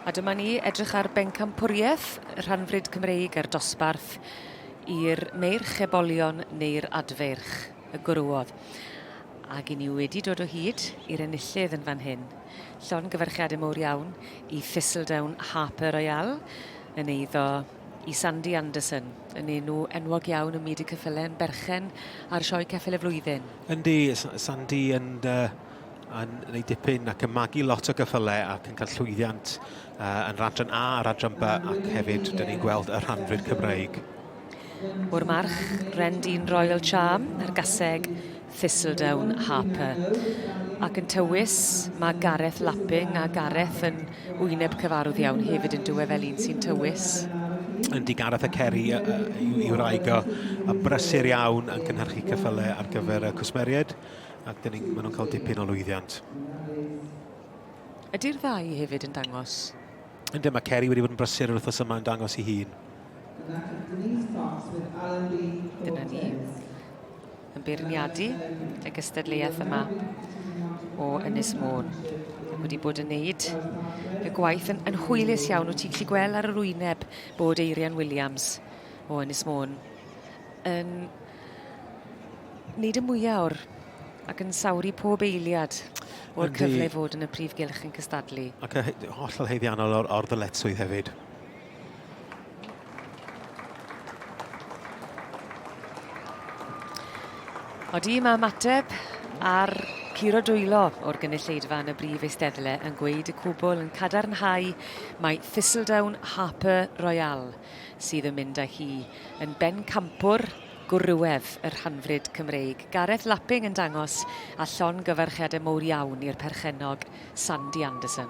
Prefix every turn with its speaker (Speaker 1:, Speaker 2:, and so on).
Speaker 1: A dyma ni edrych ar bencampwriaeth rhanfryd Cymreig a'r dosbarth i'r meirch ebolion neu'r adfeirch y gwrwodd. Ac i ni wedi dod o hyd i'r enillydd yn fan hyn. Llon gyfarchiadau mowr iawn i Thistledown Harper Royale, yn eiddo i Sandy Anderson, yn enw enwog iawn ym myd y ceffylau yn berchen ar sioe ceffyl y flwyddyn. Yndi,
Speaker 2: Sandy yn, uh, yn gwneud dipyn ac yn magu lot o geffylau ac yn cael llwyddiant uh, yn radran A a radran B ac hefyd dyn ni'n gweld y rhanfryd Cymraeg. O'r
Speaker 1: march, Rendine Royal Charm, a'r gaseg Thistledown Harper. Ac yn tywys, mae Gareth Lapping a Gareth yn wyneb cyfarwdd iawn hefyd yn dywe fel un sy'n tywys. Yndi, Gareth
Speaker 2: a Ceri yw wraig o, a brysur iawn yn cynhyrchu cyffylau ar gyfer y cwsmeriaid, ac dyn ni'n, maen nhw'n cael dipyn o lwyddiant.
Speaker 1: Ydy'r ddau hefyd yn dangos? Yndi, mae Ceri
Speaker 2: wedi bod yn brysur yr wythnos yma yn dangos i hun.
Speaker 1: Dyna ni. yn beirniadu y gystadleuaeth yma o Ynys Môn. Ac wedi bod yn neud y gwaith yn, yn hwylus iawn. Wyt ti'n gallu gweld ar yr wyneb bod Eirian Williams o Ynys Môn yn neud y mwyaf o'r ac yn sawri pob eiliad o'r cyfle fod yn y prif gylch yn cystadlu. Ac hollol
Speaker 2: heiddiannol o'r, or ddyletswydd hefyd.
Speaker 1: Odi mae ymateb ar curo dwylo o'r gynulleidfa yn y brif eisteddle yn gweud y cwbl yn cadarnhau mae Thistledown Harper Royale sydd yn mynd â hi yn bencampwr gwrywedd y rhanfryd Cymreig. Gareth Lapping yn dangos a llon gyfarchiadau mowr iawn i'r perchennog Sandy Anderson.